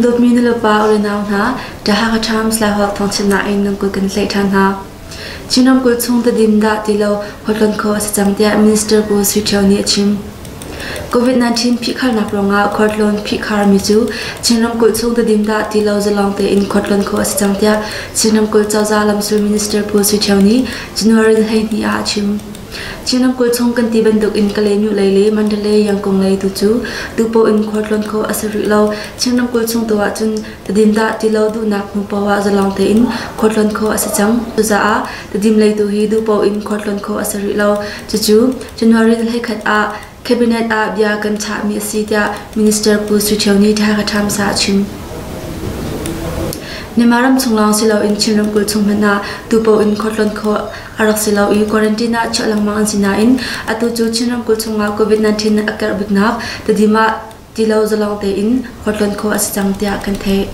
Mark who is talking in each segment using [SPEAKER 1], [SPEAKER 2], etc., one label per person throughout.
[SPEAKER 1] Dawtmi nulepa ulenau hna, Tahanga Times lai huak thawngchimnak in nan kut kan tlaih ṭhan hna. Chin ramkulh chung tadim dah ti lo huatkan kho a si cang tiah Minister Pu Sui Ṭhio nih a chim. Covid-19 phihkharnak ruangah khualtlawn phihkharmi cu Chin ramkulh chung tedim dah ti lo zalawng tein khualtlawn khawh a si cang tiah Chin ramkulh cozah lamsul minister Pu Sui Ṭhio nih January hleihnih ah a chim. Chin ramkulh chung kan ti bantuk in Kalay Myo lei le Mandalay Yangkung lei tu cu tupaw in khualtlawn khawh a si rih lo. Chin ramkulh chung tu ahcun tedim dah ti lo duhnak hnu paoh ah zalawng tein khualtlawn khawh a si cang. Cucaah Kadim lei tu hi duhpaoh in khuatlon khawh a si rih lo. Cucu January thla khat ah Cabinet ah bia kan chahmi a si tiah Minister Pu Sui Ṭhio nih Thakha Times ah a chim. Myanmar ram chung lawng si loin Chin ramkulh chung hmanh ah tupaoh in khuatlon khawh a rak si lo i quarantine ah chiah lengmang an si nain atu cu Chin ramkulh chungah COVID-19 a karh biknak tadim ah ti lo zalong tein khuatlon khawh a si cang tiah kan theih.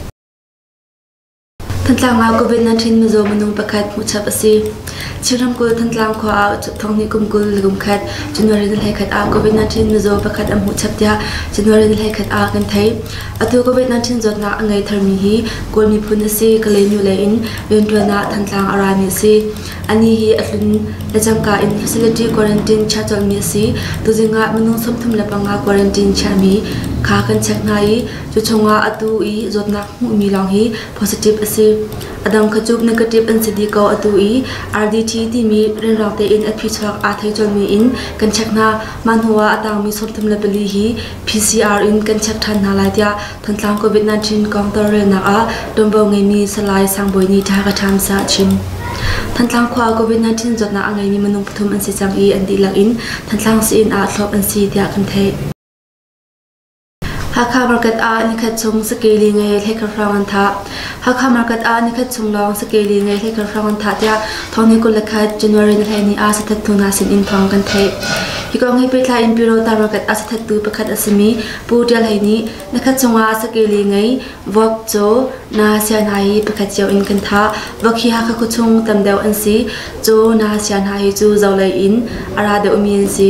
[SPEAKER 1] Thantlang ah COVID-19 mizaw minung pakhat hmuhchap a si. Chin ramkulh Thantlang khua ah thong hnih kum kul le kum khat January ni hleikhat ah COVID-19 mizaw pakhat an hmuhchap tiah January ni hleikhat ah kan thei. Atu COVID-19 zawtnak a ngei tharmi hi Kawl miphun a si. Kalenu le in riantuan ah Thantlang a rami a si. Ani hi a hlun le cangka in facility quarantine chia colmi a si. Tuzing ah minung sawmthum le panga quarantine chiami kha kan check hna i Cu chungah atu i zawtnak hmuhmi lawng hi positive a si. A dang kha cu negative an si dih ko atu i RDT timi rianrang tein a phichuak aa thei colmi in kan check hna. Mah hnuah a tangmi sawmthum le pali hi PCR in kan check ṭhan hna lai tiah Thantlang COVID-19 kong tawlrelnak ah ṭuanvo ngeimi Salai Sangbawi nih ṭha ka ṭhamsa a chim. Thantlang khua COVID-19 zawtnak a ngeimi minung pathum an si cang i an dihlak in Thantlang Sain ah thlawp an si tiah kan theih. Hakha market ah nikhat chung sakeli ngei thleikhat hrawng an thah. Hakha market ah nikhat chung lawng sakeli ngei thleikhat hrawng an thah tiah thawngnih kul le khat January ni hlei ni ah sathat hnu hna sinin thawng kan theih. Hi kong hi pehtlai in Pyro Ta market ah sathattu pakhat a simi Pu Tial Hei nih nikhat chungah sakeli ngei Vok Caw Na Sia hna hi pakhat cio in kan thah. Vok hi Hakha khua chung tam deuh an si. Caw Na Sia hna hi cu zolei in a ra deuhmi an si.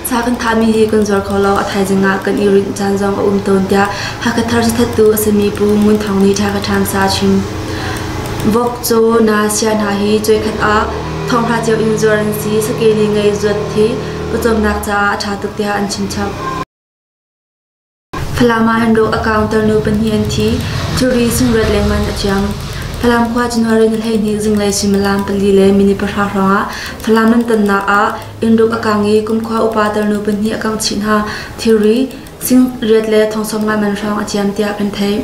[SPEAKER 1] Sa kan thahmi hi kan zuar kho lo. A thaizing ah kan i rinh caan zong a um tawn tiah Hakha Thar cithattu a sami Pu Ngun Thawng nih Ṭha Ka Ṭham sa a chim. Vok Caw Na Sia hna hi cuaikhat ah thonghra cio in zuar an si. Sake ni ngei zuat hi ka cawmnak caah a ṭha tuk tiah an chim chap. Falam ah an rawk a kaunter nu pahnih an thi. Curi sungrat lengmang a ciam. Falam khua January ni hleihnih zinglei suimilam pali le minit pahra hrawngah Falam nan tonnak ah innruk a kang i kumkhua upa tarnu pahnih a kangh chih hna. Thilri, sing riat le thongsawm ngaingan hrawng a ciam tiah kan theih.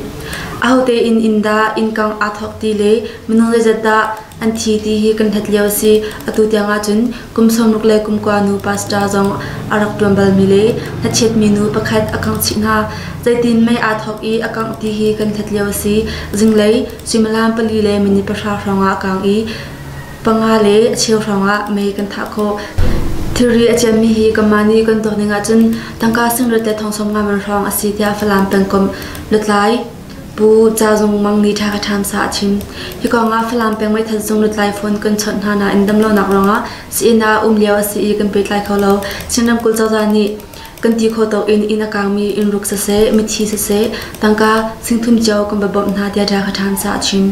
[SPEAKER 1] Ahote in inn dah inn kang aa thawk ti le minung zeizat dah An thi ti hi kan hlat lio a si. Atu tiang ahcun kum sawmruk le kumkua nu pastor zong a rak ṭuan balmi le hlachiatmi nu pakhat a kangh chih hna. Zeitin mei aa thawk i a kangh ti hi kan hlat lio a si. Zinglei suimilam pali le minit pahra hrawngah a kang i panga le a cheu hrawngah mei kan thah khawh. Thilri a ciammi hi kanmah nih kan tuak ning ahcun tangka singret le thongsawm ngan hrawng a si tiah Falam pengkomh lutlai Pu Ca Zung Mang nih thla ka ṭhamsa a chim. Hi kong ah Falam peng meithal sung lutlai phone kan chawnh hna nain damlonak ruangah si-inn ah um lio a si i kan pehtlai kho lo. Chin ramkulh cozah nih kan ti kho tawk in inn a kaangmi inn ruk siseh, mithi siseh, tangka singthum cio kan va bawmh hna tiah thla ka ṭhamsa a chim.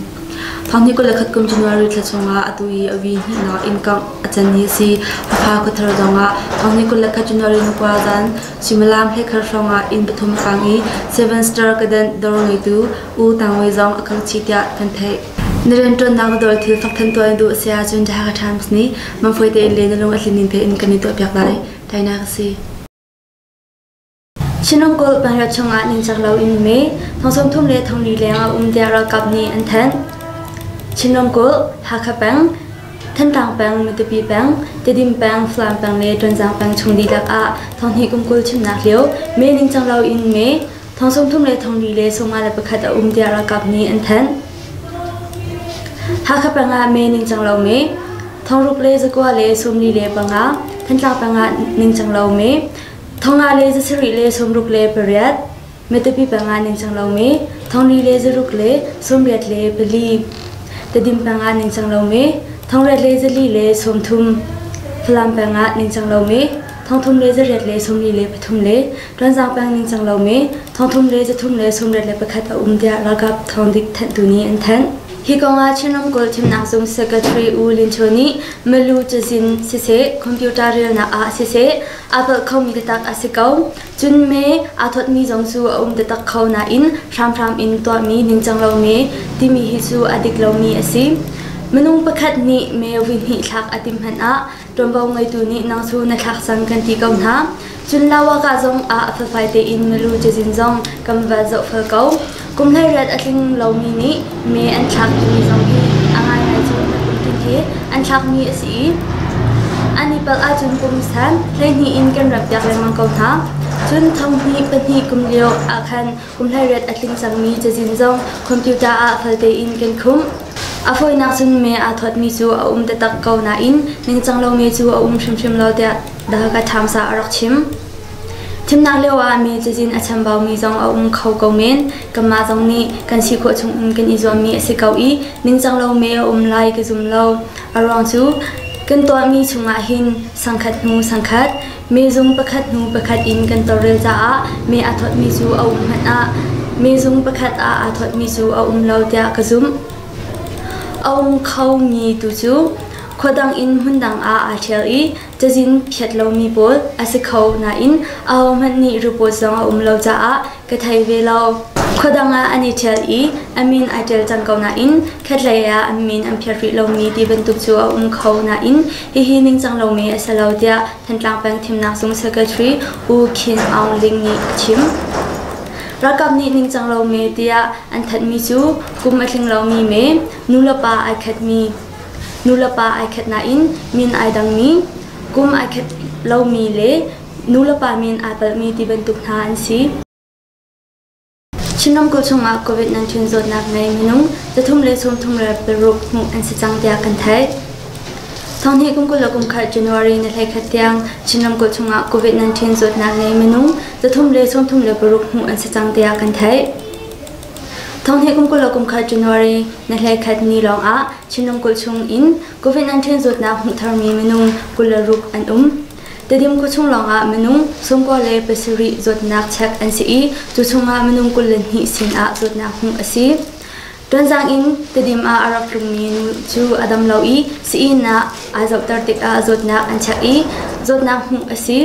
[SPEAKER 1] Thawngni kul le khatkum January thla chungah atu i a vi hnihnawk in kangh a can hi a si. Hakha khuathar zongah thawngni kul le khat January ni kua zan Suimilam hleikhat hrawng ah inn pathum a sang i Sevenster kedenh dawr ngeitu U Tang Wei zong a kal chih tiah kan theih. Na rianṭuannak na dawr thil thawk ṭhan tuah na duh a si ahcun The Hakha Times nih mangfawih tein le na lung a tlin ning tein kan i tuahpiak lai. Tainak a si. Chin ramkulh panriat chungah ningcak loin me thong thum le thong li leng a um tiah ralkap nih an thanh. Chin ramkulh, Hakha peng, Thantlang peng, Matupi peng, Tedim peng, Falam peng le Ṭuanzang peng chung dihlak ah thonghnih kum kul chimnak lio mee ningcang lo in mee thong sawmthum le thongli le sawma le pakhat a um tiah ralkap nih an thanh. Hakha peng ah mee ningcang lo mee thongruk le zakua le sawmli le panga Thantlang peng ah ningcang lo mee thonga le zasarih le sawmruk le pariat Matupi panga ningcang lomi thongri le zaruk le sawmriat le pali. Tadim panga ningcang lomi thongrep le zali le sawmthum. Falam panga ningcang lomi thongthum le zariat le sawmri le pathum le Ṭuanzang pang ningcang lomi thongthum le zathum le sawmriat le pakhat a um tiah ralkap thongdik thanhtu nih an thanh. Hi kongah Chin Ramkulh Thimnak Zung Secretary U Lin Chua nih Malu cazin siseh, computer relnak ah siseh, aa palh khomi biatak a si ko. Cun me aa thawtmi zong cu a um taktak kho nain hramhram in tuahmi ningcang lo me timi hi cu a dik lomi a si. Minung pakhat nih me vuihnih thlak a tim hmanh ah ṭuanvo ngeitu nih nang cu na thlak cang kan ti ko hna. Cun Lawaka zong ah a felfai tein milu cazin zong kan va zohfel ko. Kum hleiriat a tling lomi nih mee an thlakmi zong hi a ngaingai cu na kum tin hi an thlakmi a si i an i palh ahcun kum san hleihnih in kan rappiak lengmang ko hna. Cun thonghnih pahnih kum lio ah khan kum hleiriat a tling cangmi cazin zong computer ah fal tein kan khumh. A fawinak cun me aa thawtmi cu a um taktak ko nain ningcang lomi cu a um hrimhrim lo tiah The Hakha Times ah a rak chim. Thimnak lioah mi cazin a chambaumi zong a um kho ko men. Kanmah zong nih kan si khawh chung in kan i zuammi a si ko i ningcang lo me a um lai ka zum lo. A ruang cu kan tuahmi chungah hin sangkhat hnu sangkhat, mezung pakhat hnu pakhat in kan tawlrel caah me aa thawtmi cu a um hmanh ah mezung pakhat ah aa thawtmi cu a um lo tiah ka zumh. A um khomi tu cu khua dang in hmun dang ah aa ṭhial i cazin phiat lomi pawl a si kho nain ahohmanh nih report zong a um lo caah ka thei ve lo. Khuadang ah an i ṭhial i a min ai ṭial cang ko nain khatlei ah an min an phiat rih lomi ti bantuk cu a um kho nain hihi ningcang lomi a si lo tiah Thantlang Peng Thimnak Zung Secretary U Khin Aung Ling nih a chim. Ralkap nih ningcang lomi tiah an thanhmi cu kum a tling lomi me, nu le pa ai khatmi Nulepa ai khat nain min ai dangmi, kum ai khat lomi le nulepa min ai palhmi ti bantuk hna an si. Chin ramkulh chungah COVID-19 zawtnak ngei minung zathum le sawmthum rel paruk hmuh an si cang tiah kan theih. Thawngnih kum kul le kum khat January ni hleikhat tiang Chin ramkulh chungah COVID-19 zawtnak ngei minung zathum le sawmthum le paruk hmuh an si cang tiah kan theih. Thonghnih kum kul le kumkhat January na hleikhat ni lawngah Chinram kulh chung in COVID-19 zawtnak hmuh tharmi minung kul le ruk an um. Tedim khuachung chung lawngah minung sungkua le pasarih zawtnak check an si i cu chungah minung kul le hnih sinah zawtnak hmuh a si. Tuanzang in Tedim ah a rak tlungmi nu cu a dam lo i sii-inn ah aa zohter tikah zawtnak an check i zawtnak hmuh a si.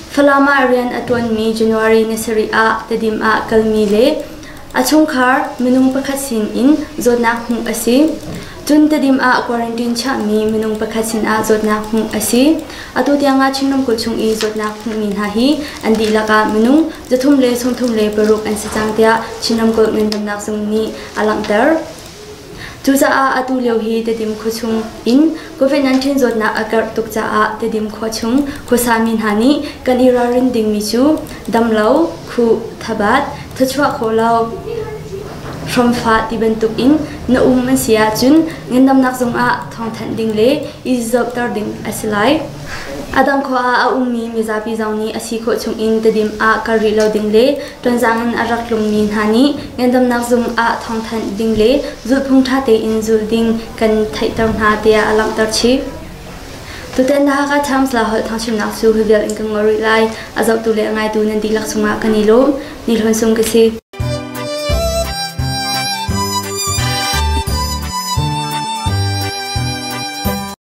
[SPEAKER 1] Falam ah rian a ṭuanmi January ni sarih ah Tedim ah kalmi le a chungkhar minung pakhat sinin zawtnak hmuh a si. Cun Tedim ah quarantine chiahmi minung pakhat sinah zawtnak hmuh a si. Atu tiangah Chin ramkulh chung i zawtnak hmuhmi hna hi an dihlak ah minung zathum le sawmthum le paruk an si cang tiah Chin ramkulh ngandamnak zung nih a langhter. Cucaah atu lio hi Tedim khua chung in COVID-19 zawtnak a karh tuk caah Tedim khua chung khuasami hna nih kan i ralrin dingmi cu damlo, khu, thabat, thachuah kho lo, hramfah ti bantuk in na um an si ahcun ngandamnak zungah thawngthanh ding le i zohter ding a si lai. A dang khua ah a ummi mizapi zong nih a si khawh chung in Tedim ah kal rih lo ding le Tonzang in a rak tlungmi hna nih ngandamnak zung ah thawngthanh ding le zulhphung ṭha tein zul ding kan theihter hna tiah a langhter chih. Tutan The Hakha Times la holh thangchimnak cu hivial in kan ngol rih lai. A zohtu le a ngaitu nan dihlak cungah kan i lawm. Ni hlawn sung ka si.